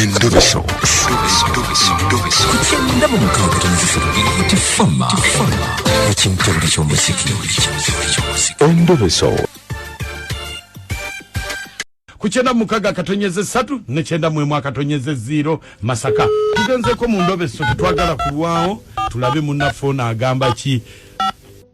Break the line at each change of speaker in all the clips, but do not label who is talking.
Endubiso. Kukyenda mu mukaaga tonazisolo nti fama ekimutabuli ky'omuziki endubiso ku kyenda mukaga akatonyeze satu ne kyenda mwemu akatonyeze ziro masaka tugenzeko mu ndobeso tetwagala kulwawo tulabe munaffe ono agamba ki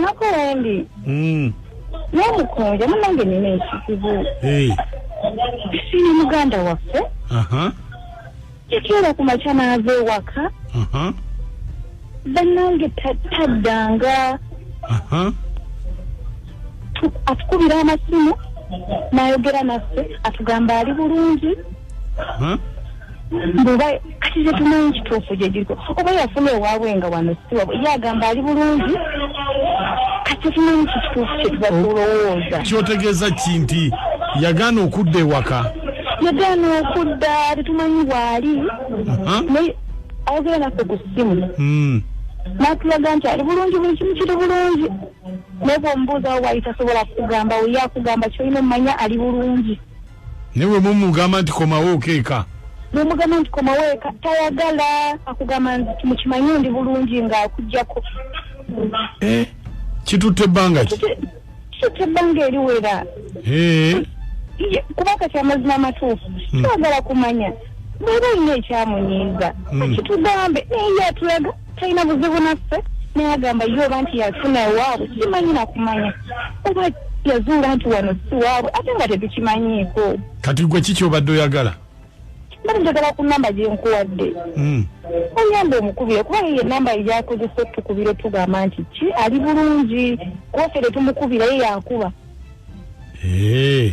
Nako
wendi. Mm. N'omukunja munange nina ekizibu. Hey. Siri muganda waffe. Aha. Uh -huh. Kiteera ku makya n'ava ewaka. Aha. Uh -huh. Bannange taddanga. Aha. Uh -huh. Atukubira amasimu n'ayogera naffe atugamba ali bulungi. Aha. Uh -huh. mbuba kati tetumanyi kituufu gyegiriko oba yafuna ewaabwe nga wano siwa ye agamba ali bulungi kati tetumanyi kikituufu kyetubakulowooza kyotegeeza ki
nti yagaana okudda ewaka yagaana
okudda tetumanyi waali ayogera naffe ku ssimu hmm. natulaga nti ali bulungi buli kimu kiri bulungi naye bwomubuuzawo waali tasobola kugamba weyakugamba kyolina omumanya ali bulungi naye bwe
mumugamba nti komawo okeeka nomugamba nti
komawo eka tayagala akugamba nti mukimanyi ndi bulungi nga akujjako eh,
kitutte ebbanga ki kitutte ebbanga
eriwera eh. kuba kati amazima amatuufu hmm. twagala kumanya bweba olina ekyamunyiiza hmm. akitugambe naye yatulaga talina buzibu naffe naye agamba ye oba nti yafuna ewaabwe tukimanyi nakumanya oba yazuula nti wano si waabwe ate nga tetukimanyiiko kati gwe kiki
obadde oyagala mbadde
njagala ku namba gyenkuwadde hmm. oyamba omukubire kuba ye enamba yakozesa otukubira otugamba nti ki ali bulungi kofere tumukubira ye yakuba eh.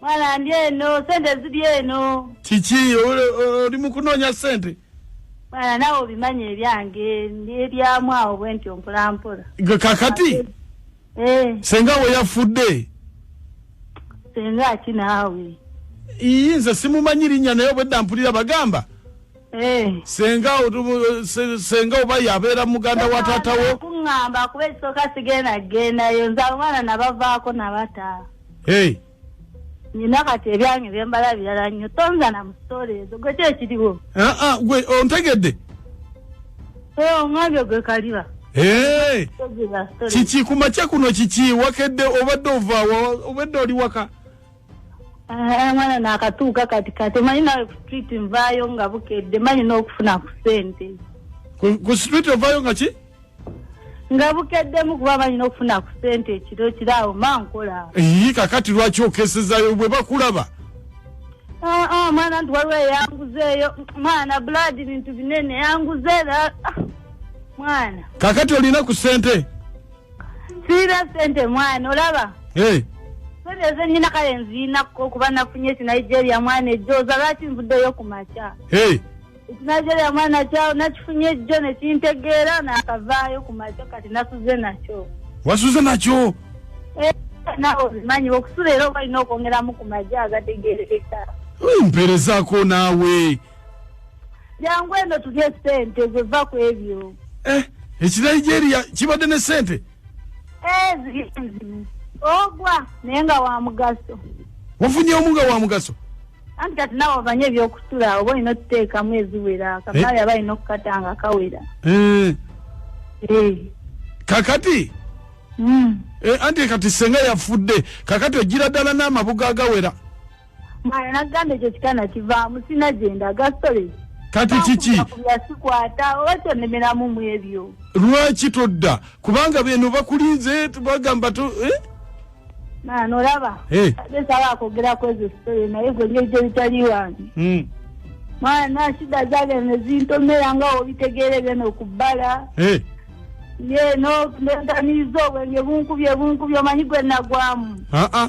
mwana
ndi eno sente ziri eno kiki
oli mukunoonya sente mwana nawe
obimanyi ebyange nebyaamu awo bwe nti ompolampola kakati
eh. senga we yafudde
senga ki naawe iyi nze
simumanyi linnya naye obwedda mpulira bagamba Eh. senga senga oba yabeera muganda wa taata wo kuŋŋamba kuba ekisooka
sigenda kugendayo nze abaana nabavaako nabata hey. nina kati ebyange byembala birala nnyo tonza na musitoola ezo gwe kyekiriwo ah, ah, gwe
ontegedde eh, oŋambye
gwe kaliba eh. kiki
kumakya kuno kiki wakedde obadde ovaawa obadde oli waka Ah,
mwana nakatuuka kati kati manyi nawe ku street nvaayo nga bukedde manyi n'okufuna ku sente ku
street ovaayo nga ki nga
bukeddemu kuba manyi n'okufuna ku sente ekiro kiro awo ma nkola eyi kakati lwaki
okesezayo bwe bakulaba ah,
ah, mwana nti waliwo eyanguzeeyo mwana blood bintu binene yanguze era mwana kakati olina
ku sente sirina
sente mwana olaba sente ezenyina kale nziinako okuba nafunye ekinigeria mwana ejjooza lwaki nvuddeyo ku makya ekinigeria mwana kyawo nakifunye ejjo nekintegeera nakavaayo ku makya kati nasuze nakyo wasuze nakyo
eh,
nawe obimanyi okusula era oba olina okwongeramu ku magye agategerekeka mperezaako
naawe
jangu eno tulye sente zeva ku ebyo eh, ekinigeria
kibadde ne sente eh,
ogwa naye nga wa mugaso wafunye omu
nga wa mugaso anti kati nawe
ovanye ebyokusula oba olina otuteekamu eziwera kamala yaba eh? alina okukata nga kawera
kakati hmm. anti kati senga yafudde kakati ojira ddala n'amabuga agawera mwana
nagamba ekyo kitana kivaamu sina gyendaga sole kati kiki
yasikwata
oba kyonemeramu mu ebyo lwaki todda
kubanga beno bakulinze bagamba to eh? mwana
olaba eh. saba akwogera kwezo sitole naye gwe nyo ekyo bitali wange hmm. mwana shida zage nezintomera nga obitegeere byona okubbala eh. ye no nentamiiza obwenge bunkubye bunkubye omanyi gwe nagwamu ah, ah.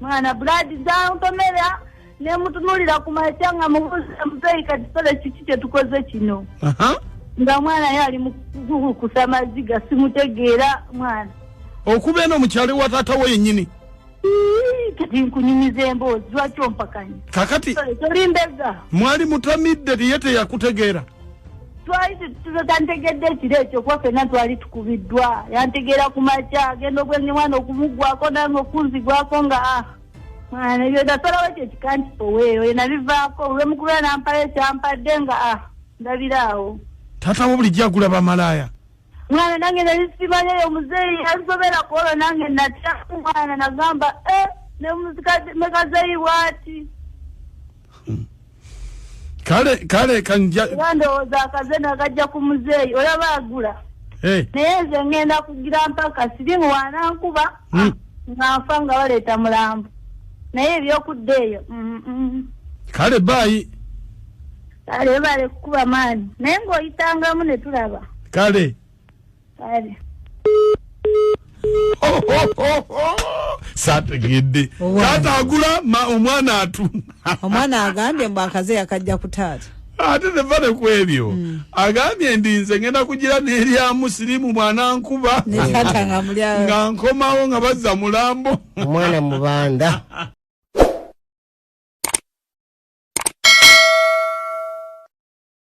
mwana
buladi zantomera nemutunulira ku makya nga mubuuza muzeeyi kati sole kiki kyetukoze kino nga mwana ye ali mukukusa maziga simutegeera mwana okuba eno
mukyalo wa taata wo yennyini
kati nkunyumiza emboozi lwaki ompakanya kakati
tolimbeeza
mwali mutamidde
tiye teyakutegeera
twali tantegedde ekiro ekyo kuba fenna twali tukubiddwa yantegeera ku makya agenda obwenge mwana okumuggwako nange okunzigwako nga ah, mwana ebyo nasalawo ekyo ekikantipoweeyo enabivaako olwemukubera nampala ekyampadde nga ah, ndabiraawo taata wo
bulijjo agula bamalaaya mwana nange
nali simanyi eyo muzeeyi yasobera kwolwo nange natya mwana nagamba e eh, nemekazeeyi bwati
kale kale kanja ndowooza akaze
nagajja ku muzeeyi olaba agula eh. naye nze ngenda kugira mpaka sirimu wanankuba hmm. ah, nga nfa nga baleeta mulambo naye ebyokudda eyo mm, mm.
kale baayi kale
bale kukuba maani naye ng'oyitangamu ne tulaba kale
kale sategedde taata agula omwana atunda omwana agambye
mbu akaze yakajja ku taata ate tevane
ku ebyo mm. agambye ndi nze ngenda kugira n'erya musirimu mwana nkuba nga nkomawo
nga bazza
mulambo omwana
mubanda